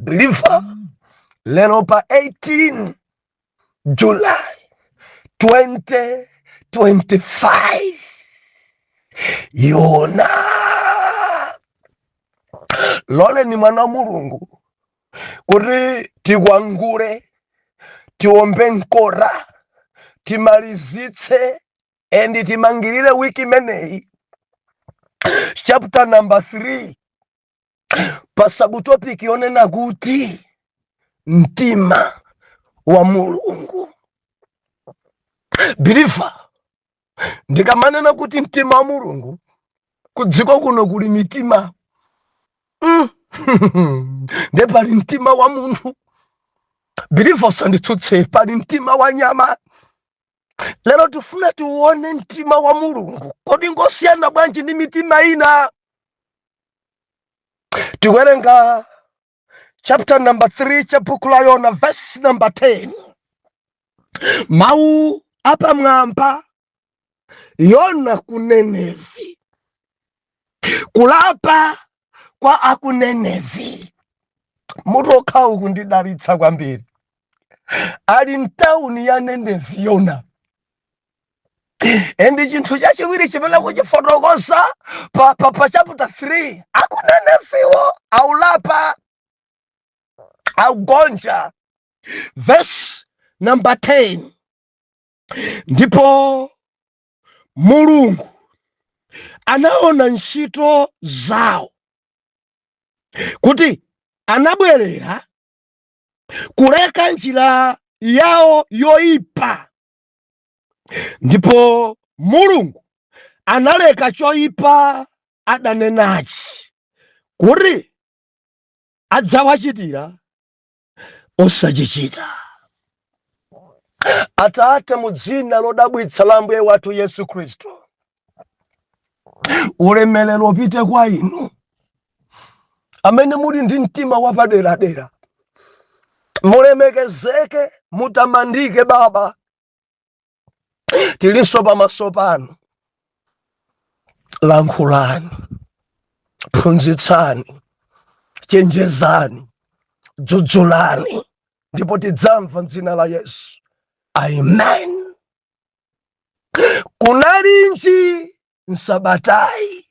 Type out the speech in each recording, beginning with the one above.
believer lero pa 18 July 2025 yona loleni mwana wa mulungu kuti tikwangule tiombe nkota timalizitse endi timangirire wiki imeneyi chapter number 3 pa subtopic yonena kuti mtima wa mulungu believer ndikamanena kuti mtima wa mulungu kudziko kuno kuli mitima mm. nde pali mtima wa munthu believer usanditsutse pali mtima wa nyama lero tifuna tiuone mtima wa mulungu kodi ngosiyana bwanji ndi mitima ina tiwerenga chapter number 3 cha buku la yona verse number 10 mawu apamwamba yona kunenevi kulapa kwa akunenevi mutu okhawu ukundidalitsa kwambiri ali mtawuni ya nenevi yona endi chinthu chachiwiri chimene akuchifotokoza pa, pa, pa chapter 3 akuneneviwo akulapa akugonja verse number 10 ndipo Mulungu anaona ntchito zawo kuti anabwerera kuleka njira yawo yoyipa ndipo mulungu analeka choyipa adanenachi kuti adzawachitira osachichita atate mu dzina lodabwitsa la mbuye wathu yesu khristu ulemelero upite kwa inu amene muli ndi mtima wapaderadera mulemekezeke mutamandike baba tilinso pamaso panu lankhulani phunzitsani chenjezani dzudzulani ndipo tidzamva mdzina la yesu amen kunalinji msabatayi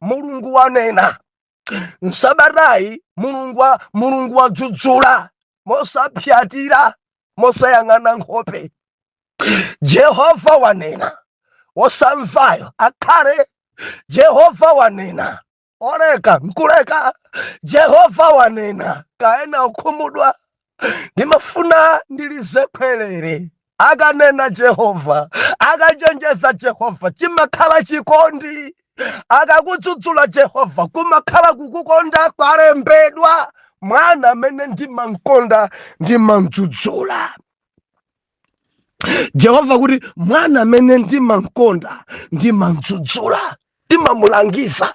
mulungu wanena msabata yi mulungu wa- mulungu wadzudzula mosapyatira mosayang'ana nkhope jehova wanena wosamvayo akhale jehova wanena oleka nkuleka jehova wanena kaya ena ukhumudwa ndimafuna ndilize khwerere akanena jehova akachenjeza jehova chimakhala chikondi akakudzudzula jehova kumakhala kukukonda kwalembedwa mwana amene ndimamkonda ndimamdzudzula jehova kuti mwana amene ndimamkonda ndimamdzudzula ndimamulangiza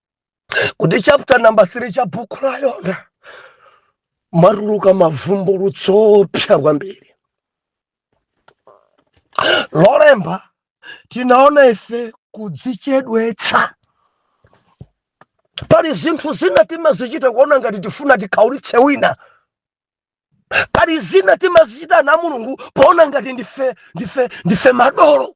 kuti chapter number 3 cha bhuku la yona mwatuluka mavumbulutso oopsa kwambiri lolemba tinaona ife kudzichedwetsa pali zinthu zina timazichita kuona ngati tifuna tikhaulitse wina pali zina timazichita na mulungu poona ngati ndife ndife ndife madolo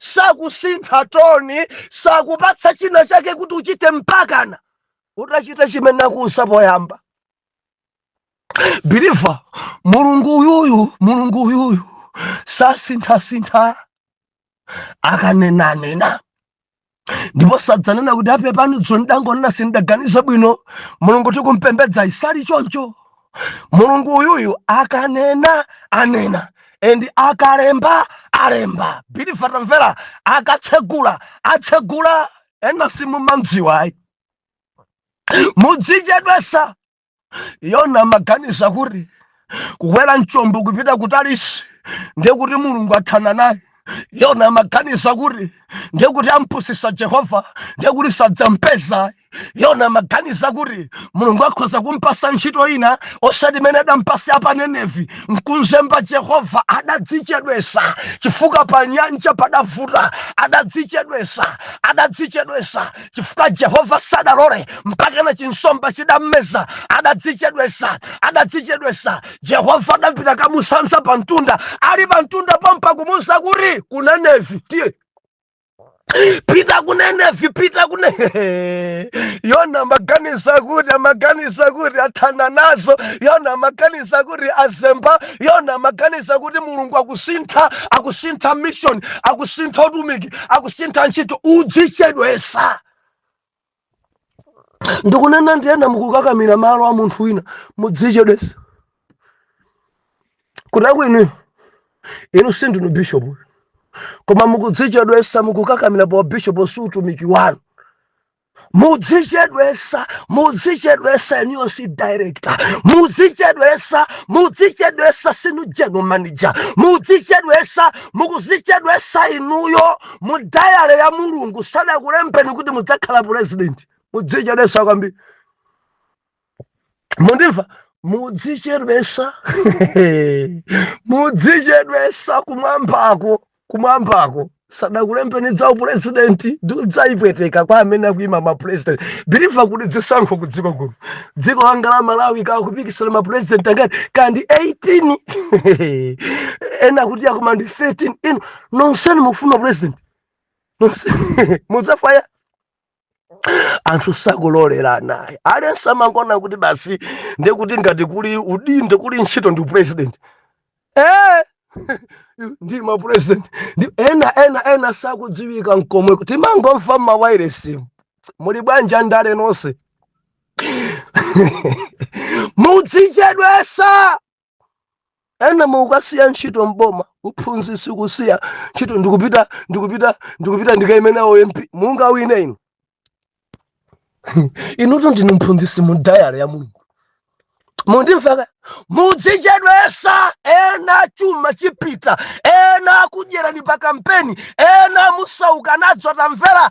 Sakusintha toni, sakupatsa china chake kuti uchite mpakana utachita chimene akuuza poyamba. Believer, mulungu uyuyu mulungu uyuyu sasinthasintha akanena anena ndipo sadzanena kuti apepani dzulo ndangonena sindidaganize bwino mulungu tikumpembedza sali choncho mulungu uyuyu akanena anena and akalemba alemba believer tamvera akatsegula atsegula ena simumamudziwa ayi mudzichedwesa yona amaganiza kuti kukwera mchombo kupita kutalisi ndiye kuti mulungu athana naye yona amaganiza kuti ndiye kuti ampusisa jehova ndiye kuti sadzampeza yona amaganiza kuti mulungu akhoza kumpasa ntchito ina osati imene adampasa ya pa nenevi nkumzemba jehova adadzichedwesa chifukwa pa nyanja padavuta adadzichedwesa adadzichedwesa chifukwa jehova sadalole mpakana chinsomba chidammeza adadzichedwesa adadzichedwesa jehova adapita kamusanza pa mtunda ali pa mtunda pompo kumuuza kuti kunenevi tiye pita kunenevi pita kune yona amaganiza kuti amaganiza kuti athana nazo yona amaganiza kuti azemba yona amaganiza kuti mulungu akusintha akusintha mission akusintha utumiki akusintha ntchito udzichedwesa ndikunena ndi ena mukukakamira malo a munthu wina mudzichedwesa kutako inuyo inu sindinu bishopuyo koma mukudzichedwesa mukukakamira pa bishop si utumiki wanu mudzichedwesa mudzichedwesa inuyo sinu director mudzichedwesa mudzichedwesa sinu general manager mudzichedwesa mukuzichedwesa inuyo mu dayare ya mulungu sadakulembeni kuti mudzakhala purezidenti mudzichedwesa kwambiri mundimva mudzichedwesa mudzichedwesa kumwambako kumwambako sadakulembeni za upurezidenti mudzadzipweteka kwa amene akuyima mapurezidenti biliva kuti zisankho ku dziko kuno dziko langa la malawi akupikisana mapurezidenti angati kaya ndi 18 ena kuti akuma ndi 13 ino nonseni mukufuna president Nonse- mudzafaya anthu sakulolerana ayi aliyense amangona kuti basi ndekuti ngati kuli udindo kuli ntchito ndi upresident eh ndi ma president ndi ena ena ena sakudziwika nkomwe timangomva mmawairesi muli bwanja ndale nonse mudzichedwesa ena mukasiya ntchito mboma uphunzitsi kusiya ntchito ndikupita ndikupita ndikupita ndikaime u MP mungawine inu inutu ndinu mphunzitsi mu dayare ya mulungu mundimveka mudzichedwesa ena chuma chipita ena akudyerani pa kampeni ena musauka nazo tamvera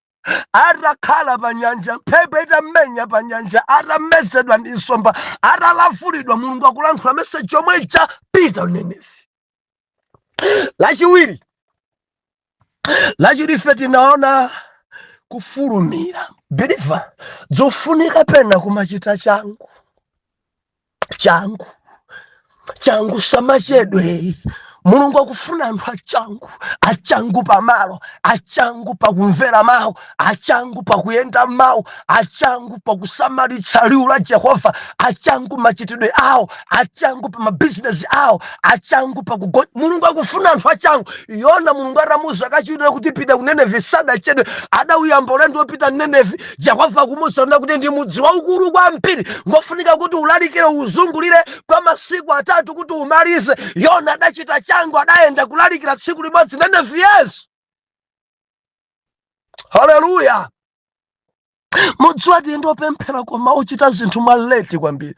atakhala pa nyanja mphepo itamenya pa nyanja atamezedwa ndi nsomba atalavulidwa mulungu akulankhula meseji yomwe ija pita ku nenevi lachiwiri lachiwiri ife tinaona kufulumira biliva zofunika pena kumachita changu changu changu samachedwe mulungu akufuna anthu achangu achangu pamalo achangu pakumvera mawu achangu pakuyenda mawu achangu pakusamalitsa liwu la jehova achangu machitidwe awo achangu pa mabizinesi awo achangu pakugo mulungu akufuna anthu achangu yona mulungu atamuza kachiwiri kuti pita ku nenevi sadachedwe adauyamba ulendo wopita nenevi yehova akumuuza yona kuti ndi mudzi waukulu kwambiri ngofunika kuti ulalikire uzungulire kwa masiku atatu kuti umalize yona adachita changu adayenda kulalikira tsiku limodzi nenevi yes haleluya mudziwa tili ndi opemphera koma ochita zinthu mwa leti kwambiri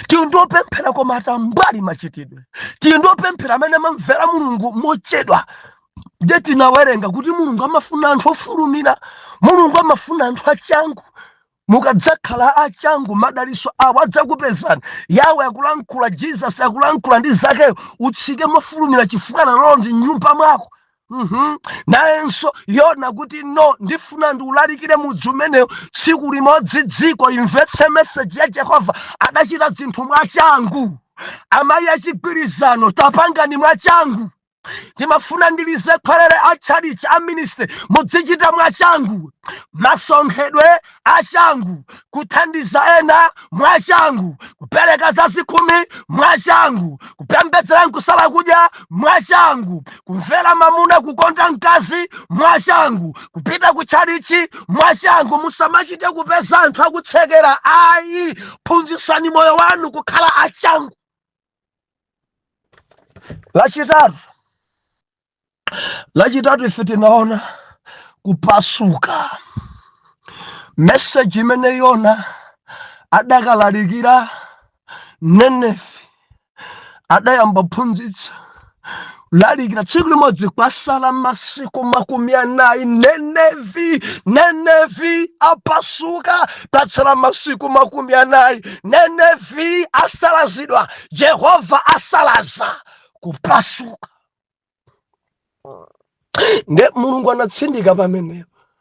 tili ndi opemphera koma atambwali machitidwe tili ndi opemphera amene amamvera mulungu mochedwa ndiye tinawerenga kuti mulungu amafuna anthu ofulumira mulungu amafuna anthu achangu mukadzakhala achangu madaliso awo adzakupezani yawe akulankhula jesus akulankhula ndi zakeyo utsike mofulumira chifukwa lero ndili mnyumba mwako Mhm. nayenso yona kuti no ndifuna ndiulalikire mudzi umenewu tsiku limodzi dziko limvetse meseji ya jehova adachita zinthu mwachangu amayi achigwirizano tapangani mwachangu ndimafuna ndilize khwerere a tchalitchi a ministry mudzichita mwachangu masonkhedwe a changu kuthandiza ena mwachangu kupereka za zikhumi mwachangu kupembedzera n'kusala kudya mwachangu kumvera mamuna kukonda mkazi mwachangu kupita ku tchalitchi mwachangu musamachite kupeza anthu akutsekera ayi phunzitsani moyo wanu kukhala a changu Lachitatu, lachitatu ife tinaona kupasuka meseji imene yona adakalalikira Nineve adayamba kuphunzitsa lalikira tsiku limodzi kwasala masiku makumi anayi Nineve Nineve apasuka patsala masiku makumi anayi Nineve asalazidwa jehova asalaza kupasuka nde mulungu anatsindika pamenepo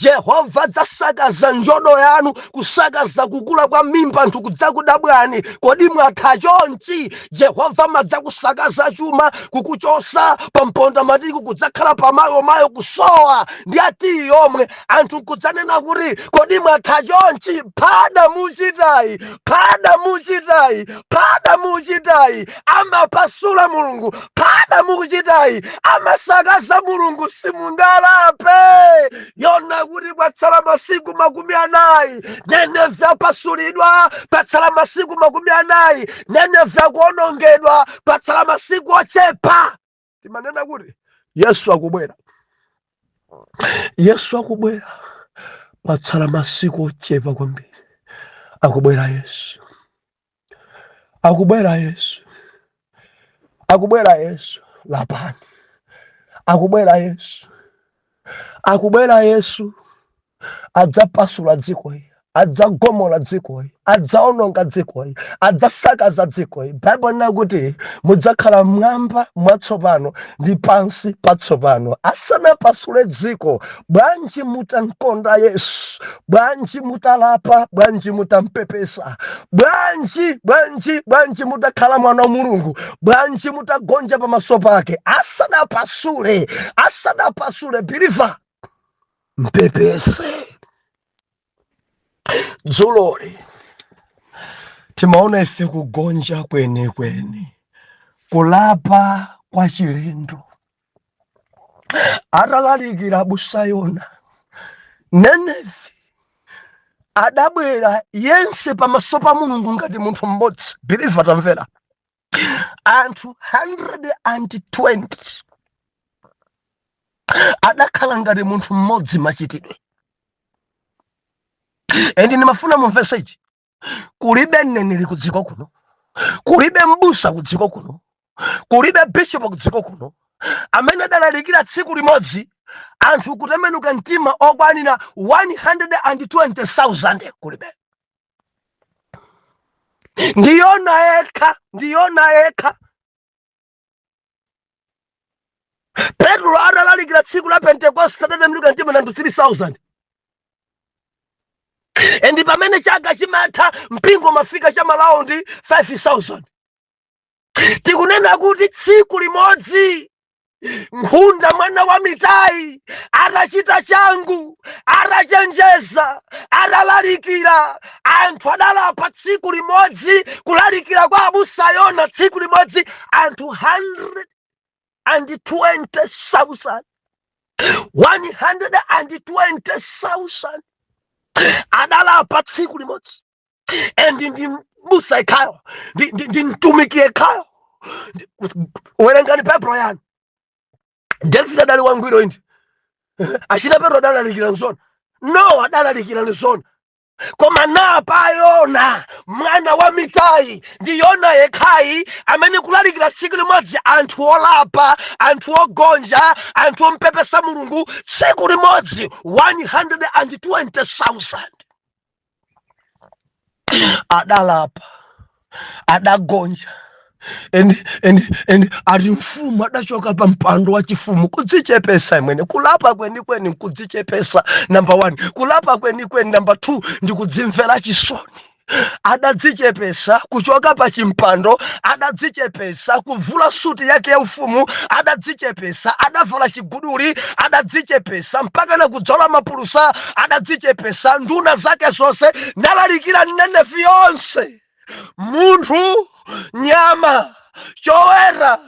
Yehova adzasakaza njodo yanu kusakaza kukula kwa mimba anthu n'kudzakudabwani kodi mwatha chonchi Yehova amadzakusakaza chuma kukuchotsa pa mpondamatiki kudzakhala pamayo mayo kusowa ndi ya tiyi yomwe anthu n'kudzanena kuti kodi mwatha chonchi phada muchitayi phada muchitayi phada muchitayi amapasula mulungu phada mukuchitayi amasakaza mulungu simungalape yona kuti kwatsala masiku makumi anayi nenevi apasulidwa patsala masiku makumi anayi nenevi akuonongedwa patsala masiku ochepa timanena kuti yesu akubwera yesu akubwera patsala masiku ochepa kwambiri akubwera yesu akubwera yesu akubwera yesu lapani akubwera yesu akubwera yesu adzapasula dzikoli adzagomola dzikoli adzaononga dzikoli adzasakaza dzikoli baibulo linena kuti mudzakhala mwamba mwatsopano ndi pansi patsopano asanapasule dziko bwanji mutankonda yesu bwanji mutalapa bwanji mutampepesa bwanji bwanji bwanji mutakhala mwana wa mulungu bwanji mutagonja pamaso pake asadapasule asadapasule biliva mpepese dzuloli timaona ife kugonja kwenikweni kulapa kwa chilendo atalalikira abusa yona nineve adabwera yense pamaso pa mulungu ngati munthu mmodzi believer tamvera anthu 120 adakhala ngati munthu mmodzi machitidwe endi ndimafuna mumvese ichi kulibe mneneri ku dziko kuno kulibe mbusa ku dziko kuno kulibe bishopu ku dziko kuno amene adalalikira tsiku limodzi anthu kutembenuka mtima okwanira 120,000 kulibe ndi yona yekha ndi yona yekha petulo adalalikira tsiku la pentekoste adatembenuka mtima anthu 3000 endi pamene chaka chimatha mpingo umafika cha malaundi 5000 tikunena kuti tsiku limodzi nkhunda mwana wa amitai atachita changu atachenjeza atalalikira anthu adalapa tsiku limodzi kulalikira kwa abusa yona tsiku limodzi anthu 120,000 120,000 adalapa tsiku limodzi and ndi mbusa yekhayo ndi- ndi ndi mtumiki yekhayo Ndi- werengani baibulo yanu david adali wangwiro inde achina petro adalalikira nzona no adalalikira nzona koma napa yona mwana wa amitai ndi yona yekhayi amene kulalikira tsiku limodzi anthu olapa anthu ogonja anthu ompepesa mulungu tsiku limodzi 120000 adalapa adagonja and and and ati mfumu adachoka pa mpando wa chifumu kudzichepesa imwene kulapa kwenikweni nkudzichepesa number one kulapa kwenikweni number two ndi kudzimvera chisoni adadzichepesa kuchoka pa chimpando adadzichepesa kuvula suti yake ya ufumu adadzichepesa adavala chiguduli adadzichepesa mpaka na kudzola mapulusa adadzichepesa nduna zake zonse nalalikira m'nineve yonse zonse, munthu, nyama, choweta,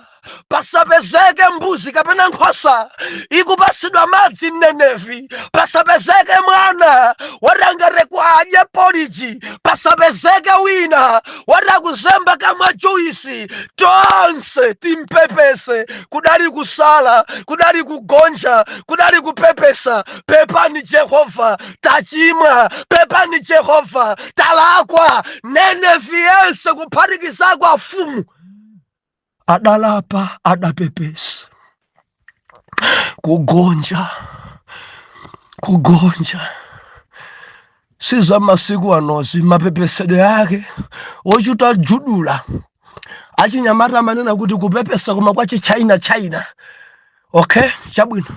pasapezeke mbuzi kapena nkhosa ikupasidwa madzi m'nineve pasapezeke mwana woti angathe kudya poliji pasapezeke wina woti akuzemba kamwa juisi tonse timpepese kudali kusala kudali kugonja kudali kupepesa pepani jehova tachimwa pepani jehova talakwa nineve yense kuphatikizako afumu adalapa adapepesa kugonja kugonja si za masiku anozi mapepesedwe ake ochita judula achinyamata amanena kuti kupepesa koma kwa chichina china okay chabwino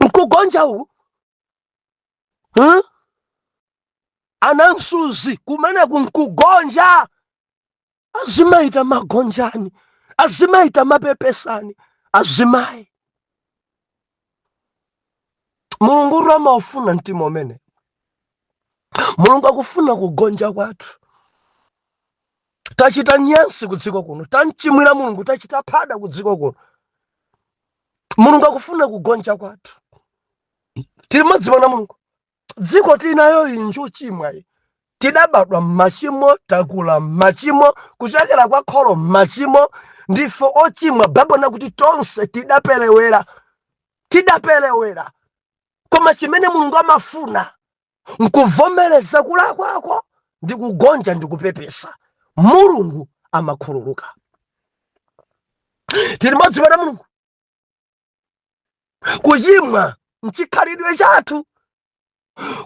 nkugonja uku huh? anamsuzi kumeneku nkugonja azimayi tamagonjani azimayi tamapepesani azimayi mulunguyo amaufuna mtima umene mulungu akufuna kugonja kwathu tachita nyansi kudziko kuno tamchimwira mulungu tachita phada kudziko kuno mulungu akufuna kugonja kwathu tili modzi mwana mulungu dziko tinayoyi njochimwa iyi tidabadwa mmachimo takula mmachimo kuchokera kwa kholo mmachimo ndife ochimwa baibulo nakuti tonse tidaperewera tidaperewera koma chimene mulungu amafuna nkuvomereza kulakwako ndi kugonja ndi kupepesa mulungu amakhululuka tili modzi mwana mulungu kuchimwa nchikhalidwe chathu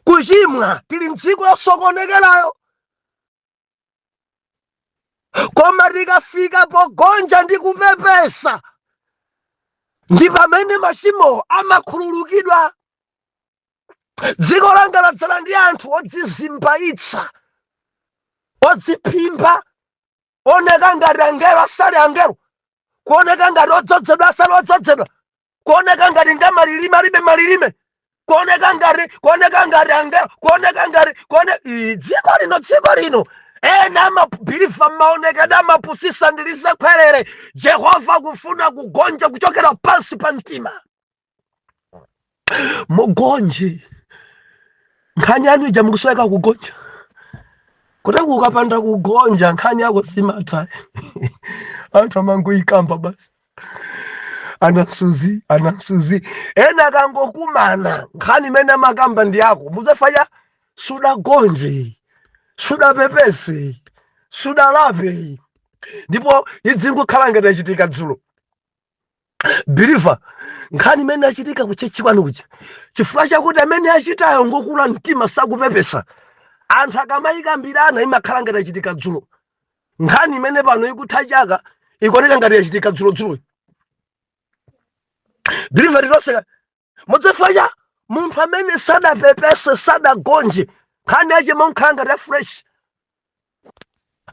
kuchimwa tili mdziko yosokonekerayo koma tikafika pogonja ndi kupepesa ndi pamene machimo amakhululukidwa dziko langa ladzala ndi anthu odzizimbayitsa odziphimba oneka ngati angelo asali angelo kuoneka ngati odzodzedwa asali odzodzedwa kuoneka ngati ngamalilime alibe malilime kuoneka ngati kuoneka ngati angelo kuoneka ngati kuone Ii, dziko lino dziko lino ena amabiliva maonekedwe amapusisa ndilize khwerere jehova akufuna kugonja kuchokera pansi pa mtima mugonje nkhani yanu ija mukusoweka kugonja kuti ukapanda kugonja nkhani yako simatha anthu amangoyikamba basi anasuzi anasuzi ena akangokumana nkhani imene amakamba ndi yako muzafanya sudagonje sudapepese sudalape ndipo idzingokhala ngati yachitika dzulo biliva nkhani imene yachitika kuchechi kwanu kuja chifukwa chakuti amene achitayo ngokula mtima sakupepesa anthu akamayikambirana imakhala ngati yachitika dzulo nkhani imene pano ikutha chaka ikuoneka ngati yachitika dzulodzuloyi believer loseka mudzafacha munthu amene sadapepese sadagonje nkhani yache imakhala ngati ya fresh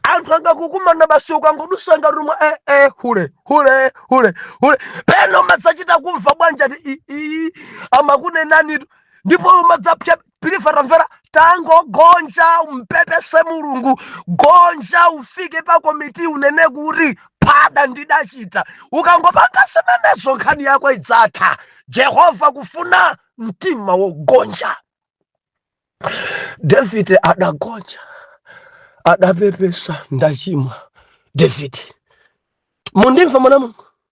anthu angakukumana basi ukangodusa ngati umwe eh, eh, hule hule hule hule pena umadzachita kumva bwanja ti i- i- amakunenani ndipo umadzapya believer tamvera tangogonja umpepese mulungu gonja ufike pa komiti unene kuti pada ndidachita ukangopanga zimenezo nkhani yako idzatha jehova akufuna mtima wogonja davide adagonja adapepesa ndachimwa davide mundimva mwana wa mulungu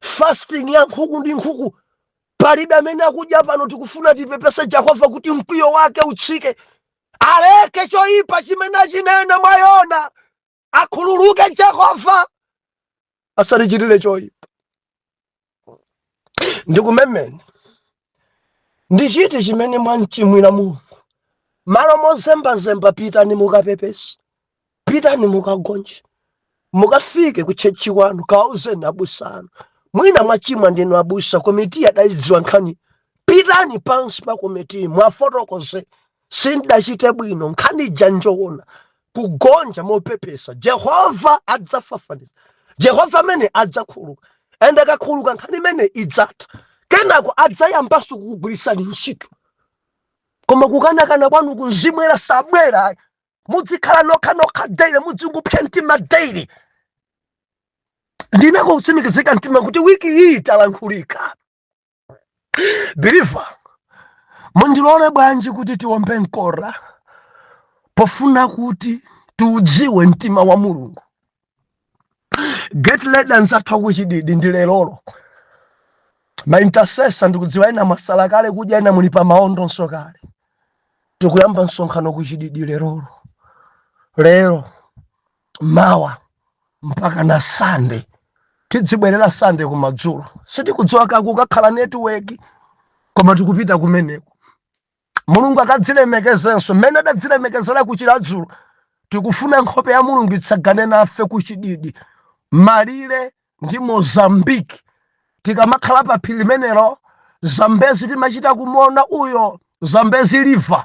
fasting ya nkhuku ndi nkhuku palibe amene akudya pano tikufuna tipepese jehova kuti mkwiyo wake utsike aleke choyipa chimene achinena mwa yona akhululuke jehova asatichitire choyipa ndikumemeni Ndi chiti chimene mwamchimwira Mulungu? Malo mozembazemba, pitani mukapepese, pitani mukagonje, mukafike ku tchetchi kwanu, kawauzeni abusa anu. Mwina mwachimwa ndinu abusa, komiti adayidziwa nkhani. Pitani pansi pa komiti, mwafotokoze Sindidachite bwino, nkhani ija njoona. Kugonja mopepesa. Jehova adzafafaniza. Jehova amene adzakhululuka. Ende akakhululuka nkhani imene idzatha. Kenako adzayambanso kukugwiritsani ntchito. Koma kukanakana kwanuku Mzimu Woyera sabwera ayi. Mudzikhala nokha nokha daily, mudzingopsa mtima daily. Ndi nako kutsimikizika mtima kuti wiki iyi talankhulika. believer mundilole bwanji kuti tiombe mkota pofuna kuti tiudziwe mtima wa mulungu get ready anzathu a ku chididi ndi lerolo ma intercessor ndikudziwa ena mwasala kale kudya ena muli pa maondonso kale tikuyamba msonkhano ku chididi lerolo lero mawa mpakana sunday tidzibwerera sunday kumadzulo sitikudziwa kaya kukakhala network koma tikupita kumeneko mulungu akadzilemekezenso mmene adadzilemekezera ku chiradzulu tikufuna nkhope ya mulungu itsagane nafe ku chididi malire ndi mozambique tikamakhala pa phiri limenelo zambezi timachita kumuona uyo zambezi river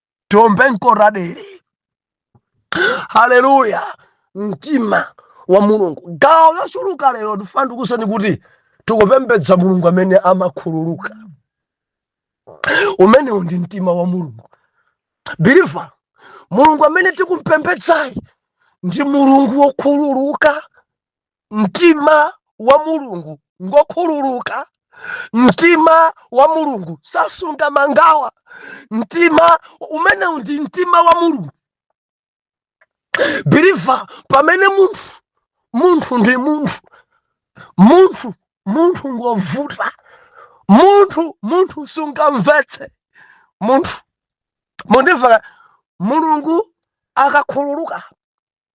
tiombe mkotadere haleluya mtima wa mulungu gawo lochuluka lero ndifuna ndikuuzeni kuti tikupembedza mulungu amene amakhululuka umenewu ndi mtima wa mulungu biliva mulungu amene tikumpembedzayi ndi mulungu wokhululuka mtima wa mulungu ngokhululuka mtima wa mulungu sasunga mangawa mtima umenewu ndi mtima wa mulungu biriva pamene munthu munthu ndi munthu munthu munthu ngovuta munthu munthu sungamvetse munthu mundimva mulungu akakhululuka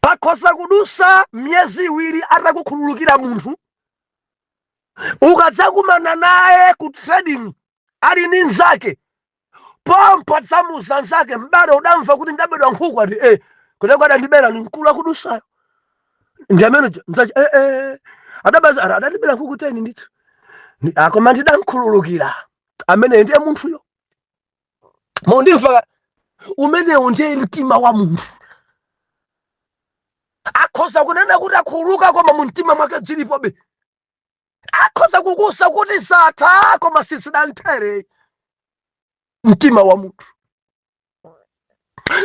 pakhoza kudusa miyezi iwiri atakukhululukira munthu ukadzakumana naye ku trading ali ndi nzake pompo adzamuza nzake m'bale udamva kuti ndabedwa nkhuku ati e kuteko adandibera ni mkulu akudusayo ndi amene uja, nzache e, e, adabaza ara adandibera nkhuku teni ndithu koma ndidamkhululukira amene ndiye munthuyo mundimva umenewu ndiye mtima wa munthu akhoza kunena kuti akhululuka koma mu mtima mwake dzilipobe akhoza kukuuza kuti zatha koma sizidathere mtima wa munthu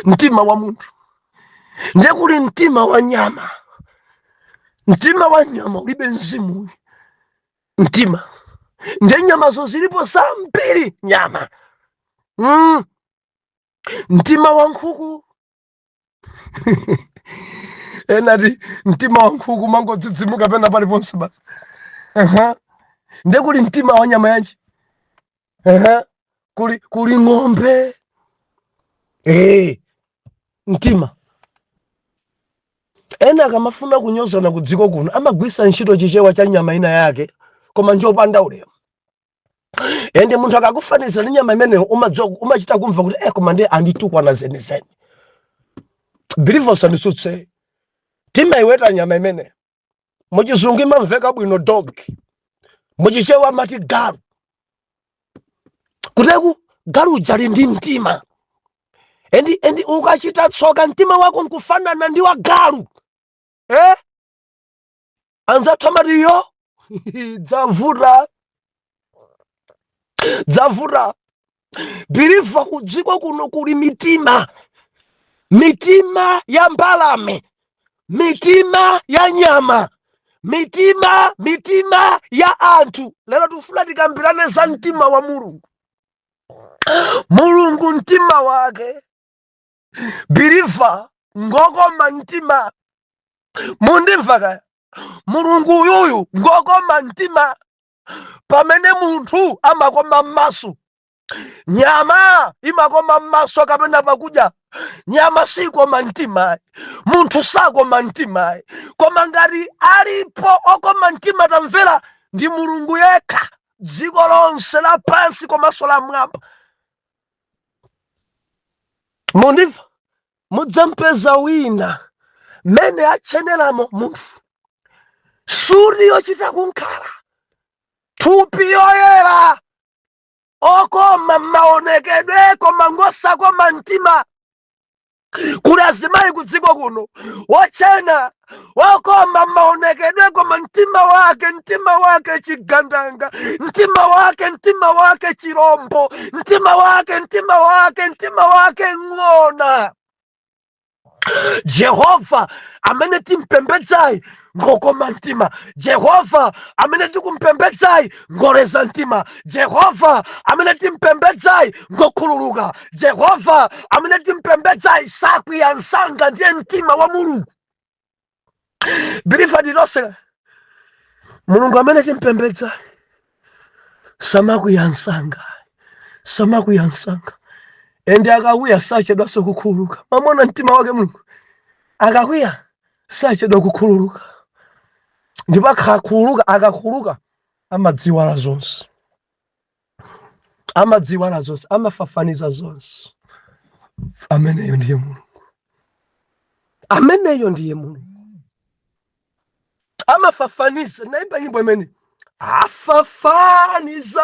mtima wa munthu ndiye kuli mtima wa nyama mtima wa nyama ulibe mzimu mtima nde nyamazo zilipo zambiri nyama mm. mtima wa nkhuku enati mtima wa nkhuku mangodzidzimuka pena paliponse basi uh -huh. nde kuli mtima wa nyama yanji ehe, kuli, kuli ng'ombe eh, mtima ena akamafuna kunyozana ku dziko kuno amagwisa ntchito chichewa cha nyama ina yake koma njopanda ulemu ende munthu akakufanizira ndi nyama imeneyo umadziwa umachita kumva kuti eh, koma ndiye anditukwana zenizeni believe usandisutse timaiweta nyama imeneyo muchizungu imamveka bwino dog muchichewa amati galu kuteko galu ujali ndi mtima endi endi ukachita tsoka mtima wako nkufanana ndi wa galu eh? anzathu amatiyo dzavuta dzavuta biliva kudziko kuno kuli mitima mitima ya mbalame mitima ya nyama mitima mitima ya anthu lero tikufuna tikambirane za mtima wa mulungu mulungu mtima wake biliva ngokoma mtima mundimva kaya mulungu uyuyu ngokoma mtima pamene munthu amakoma m'maso nyama imakoma m'maso kapena pakudya nyama sikoma mtimayi munthu sakoma mtimayi koma ngati alipo okoma mtima tamvera ndi mulungu yekha dziko lonse lapansi komanso la mwamba mundimva mudzampeza wina mmene atcheneramo munthu suti yochita kum'khala thupi yoyera okoma mmaonekedwe koma ngosakoma mtima kuli azimayi kudziko kuno wotchena wokoma maonekedwe koma mtima wake mtima wake chigandanga mtima wake mtima wake chirombo mtima wake mtima wake mtima wake ng'ona jehova amene timpembedzayi ngokoma mtima jehova amene tikumpembedzayi ngoleza mtima jehova amene timpembedzayi ngokhululuka jehova amene timpembedzayi sakwiya msanga ndiye mtima wa mulungu biliva tilitonse mulungu amene timpembedzayi samakwiya msanga samakwiya msanga ende akakwiya sachedwanso kukhululuka mwamuona mtima wake mulungu akakwiya sachedwa kukhululuka ndipo akhakhululuka akakhululuka amadziwala zonse amadziwala zonse amafafaniza zonse ameneyo ndiye mulungu ameneyo ndiye mulungu amafafaniza nayimba nyimbo imene afafaniza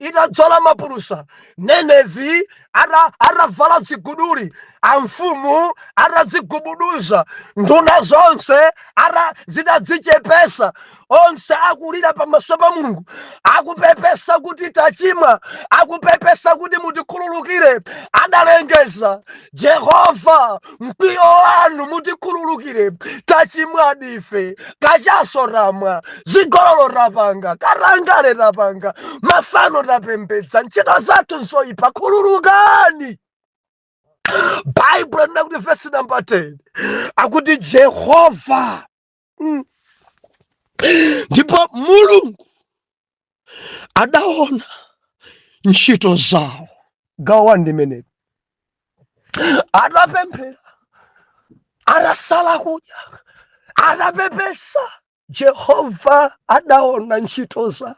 itadzola mapulusa, Nenevi ata- atavala ziguduli, amfumu atadzigubuduza, nduna zonse ata zitadzichepesa, onse akulira pamaso pa Mulungu, akupepesa kuti tachimwa, akupepesa kuti mutikhululukire, adalengeza Jehova mkwiyo wanu mutikhululukire tachimwadi ife kachaso tamwa zigololo tapanga katangale tapanga mafano tapembedza ntchito zathu nzoyipa khululukani baibulo likuti vesi namba 10 akuti jehova Mm. ndipo mulungu adaona ntchito zawo gawo wani limeneli atapemphera atasala kudya atapepesa jehova adaona ntchito zawo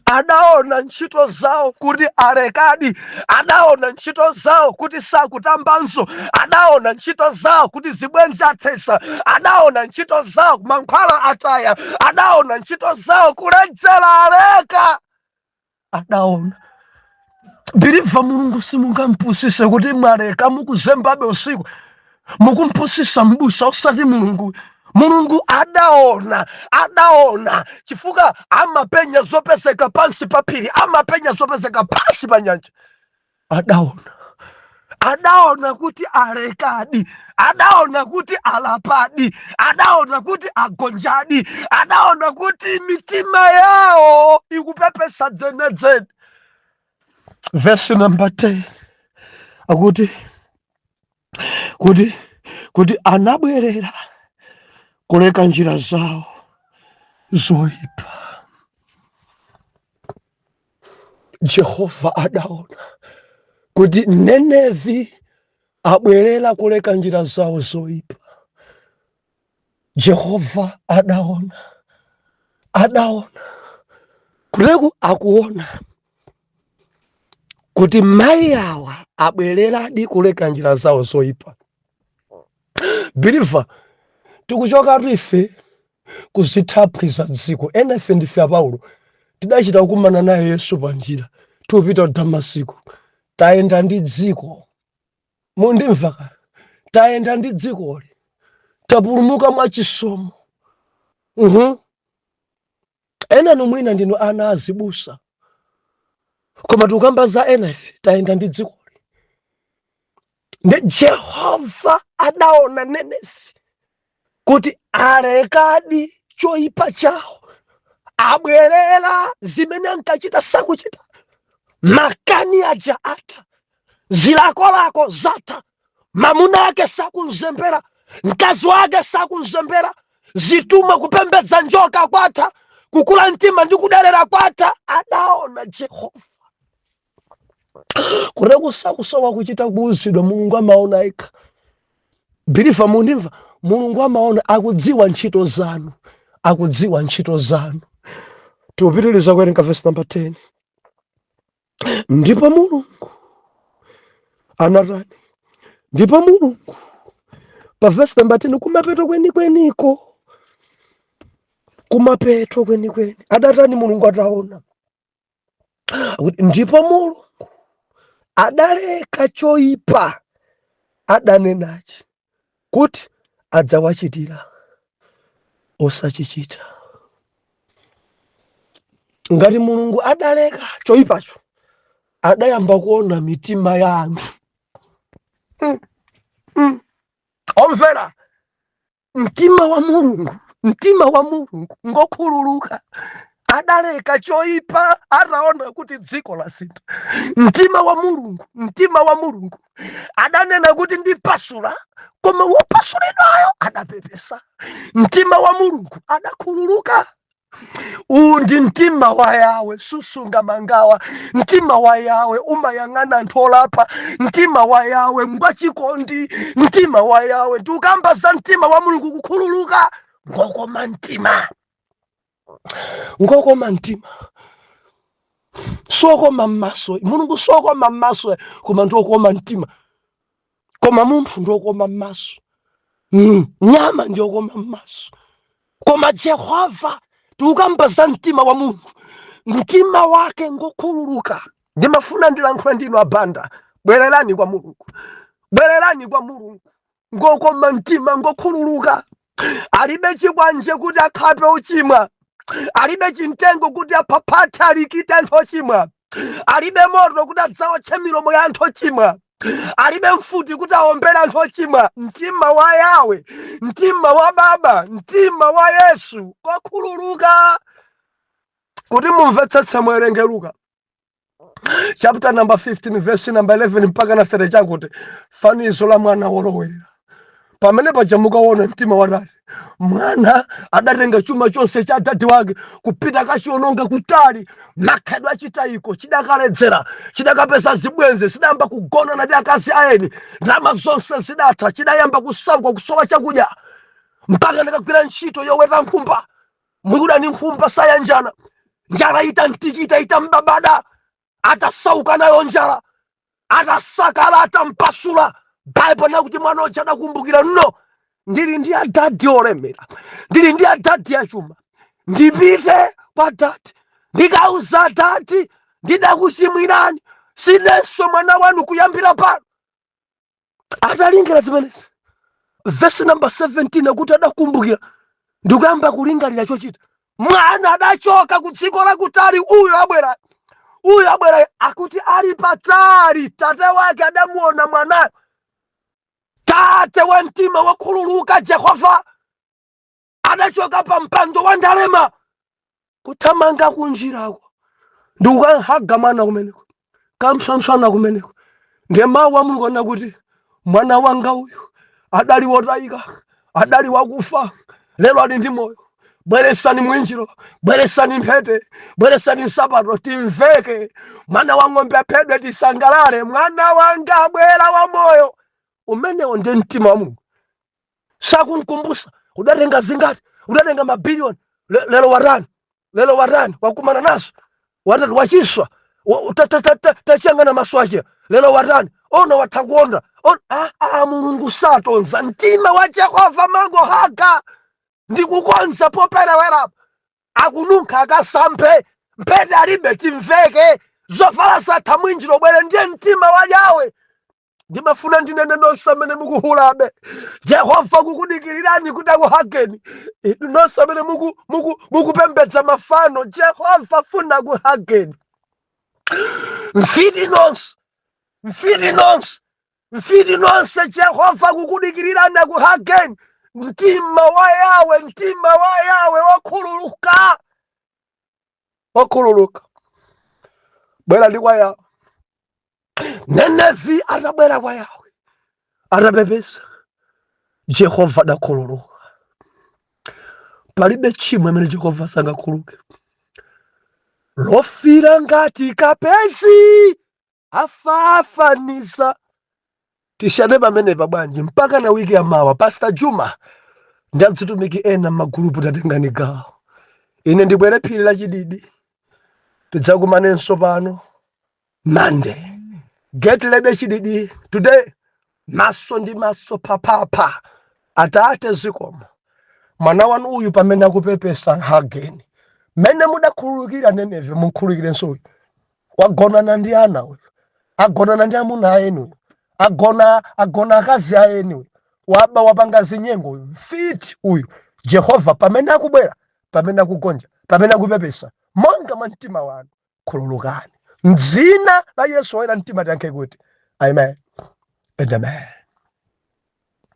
adaona ntchito zawo kuti alekadi adaona ntchito zawo kuti sakutambanso adaona ntchito zawo kuti zibwenzi athesa adaona ntchito zawo mankhwala ataya adaona ntchito zawo kuledzera aleka adaona believer mulungu simungampusise kuti mwaleka mukuzembabe usiku mukumpusisa mbusa usati mulungu mulungu adaona adaona chifukwa amapenya zopezeka pansi pa phiri amapenya zopezeka pansi pa nyanja adaona adaona kuti alekadi adaona kuti alapadi adaona kuti agonjadi adaona kuti mitima yawo ikupepesa dzenedzene vesi namba 10 akuti kuti kuti anabwerera kuleka njira zawo zoipa jehova adaona kuti nenevi abwerera kuleka njira zawo zoyipa jehova adaona adaona kuleku akuona kuti mayi awa abwereradi kuleka njira zawo zoyipa believer tikuchokatu ife ku zithaphwi za dziko enafe ndife a paulo tidachita kukumana naye yesu pa njira tikupita ku damasiko tayenda ndi dziko mundimva ka tayenda ndi dzikoli tapulumuka mwa chisomo Mhm. Enanu mwina ndinu ana a azibusa, koma tikukamba za enafe tayenda ndi dzikoli. Ndi Jehova adaona Nenevi kuti alekadi choipa chawo, abwerera zimene ankachita sakuchita, makani aja atha, zilakolako zatha. mamuna wake sakumzembera mkazi wake sakumzembera zithumwa kupembedza njoka kwatha kukula mtima ndi kudelera kwatha adaona jehova kunena kuti sakusowa kuchita kuuzidwa mulungu amaona yekha believer mundimva mulungu amaona akudziwa ntchito zanu akudziwa ntchito zanu tikupitiriza kuwerenga vesi namba 10 ndipo mulungu anatani ndipo mulungu pa vesi namba 10 kumapeto kwenikweniko kumapeto kwenikweni adatani mulungu ataona ndipo mulungu adaleka choipa adanenachi kuti adzawachitira osachichita. Ngati Mulungu adaleka choyipacho, adayamba kuona mitima ya anthu mm, mm. omvera mtima wa Mulungu, mtima wa Mulungu ngokhululuka adaleka choipa ataona kuti dziko lasintha. Mtima wa Mulungu, mtima wa Mulungu adanena kuti ndipasula koma wopasulidwayo adapepesa mtima wa mulungu adakhululuka uwu ndi mtima wa yawe susunga mangawa mtima wa yawe umayang'ana anthu olapa mtima wa yawe ngwachikondi mtima wa yawe ndikukamba za mtima wa mulungu kukhululuka ngokoma mtima ngokoma mtima siokoma mmaso mulungu siokoma mmaso koma ndiokoma mtima koma munthu ndiokoma mmaso nyama ndiokoma mmaso koma jehova tikukamba za mtima wa mulungu mtima wake ngokhululuka ndimafuna ndilankhula ndinu abanda bwererani kwa mulungu bwererani kwa mulungu ngokoma mtima ngokhululuka alibe chikwanje kuti akhape ochimwa alibe chimtengo kuti aphaphathe alikite anthu ochimwa alibe moto kuti adzawotche milomo ya anthu ochimwa alibe mfuti kuti awombere anthu ochimwa mtima wa yawe mtima wa baba mtima wa yesu ngokhululuka kuti mumvetsetse muwerenge luka chapter number 15 verse number 11 mpaka na 30 akuti fanizo la mwana wolowerera pamene paja mukaona mtima wa tate mwana adatenga chuma chonse cha adadi wake kupita kachiononga kutali makhalidwe achitayiko chidakaledzera chidakapeza zibwenzi chidayamba kugonana ndi akazi aeni ndalama zonse zidatha chidayamba kusauka kusowa chakudya mpaka nkukagwira ntchito yoweta nkhumba Myuda ni nkhumba sayanjana, njala itamtikita itambabada, atasauka nayo njala, atasakala atampasula. Baibulo likuti mwana uja adakumbukira no, ndili ndi adadi olemera, ndili ndi adadi achuma, ndipite kwa dadi ndikauze adadi ndidakuchimwirani, sinenso mwana wanu kuyambira pano. atalingera zimenezi vesi namba 17 akuti adakumbukira ndikuyamba kulingalira chochita mwana adachoka ku dziko lakutali uyo abwera uyo abwera akuti ali patali tate wake adamuona mwanayo tate wa mtima wokhululuka jehova adachoka pa mpando wa ndalema kuthamanga kunjirako ndikukahaga mwana kumeneko kampsompsona kumeneko ndiye mawu a mulungu anena kuti mwana wanga uyu adali wotayika adali wakufa lero ali ndi moyo bweresani mwinjiro bweresani mphete bweresani nsapato timveke mwana wa ng'ombe aphedwe tisangalale mwana wanga wabwera wa moyo umenewo ndi mtima wa mulungu sakunkumbusa udatenga zingati udatenga mabiliyoni Le- lero warani lero warani wakumana nazo watati wachiswa wa- ta- ta- ta- ta- tachiyangana maso ache lero warani ona watha kuona On- ah, ah, mulungu satonza mtima wa jehova mango haga ndi kukonza poperewerapo akununkha akasamphe mphete alibe timveke zovala satha mwinjiro bwere ndiye mtima wa yawe ndimafuna ndinene nonse amene mukuhulabe jehova akukudikirirani kuti akuhageni Inu nonse amene muku- muku- mukupembedza mafano jehova afuna akuhageni mfiti nonse mfiti nonse mfiti nonse jehova akukudikirirani akuhageni mtima wa yawe mtima wa yawe wokhululuka Wokhululuka bwerani kwa yawe nenevi atabwera kwa yawe atapepesa jehova adakhululuka palibe tchimo limene jehova sangakhululuke lofira ngati kapezi afafaniza tisiyane pamenepa bwanji mpaka na wiki ya mawa pastor juma ndi adzitumiki ena m'magulupu tatengani gawo ine ndibwere phiri la Chididi tidzakumanenso pano monday get ready Chididi today Maso ndi maso, phaphapha. Atate, zikomo. Mwana Wanu uyu pamene akupepesa again. Mmene mudakhululukira Nenevi, mumkhululukirenso uyu. Wagonana ndi ana uyu. Agonana ndi amuna a eni uyu. Agona akazi a eni uyu. Waba, wapanga zinyengo uyu. Mfiti uyu. Jehova, pamene akubwera, pamene akugonja, pamene akupepesa, monga mwa mtima wanu, khululukani mdzina la yesu oyera mtima tiyankhe kuti amen and amen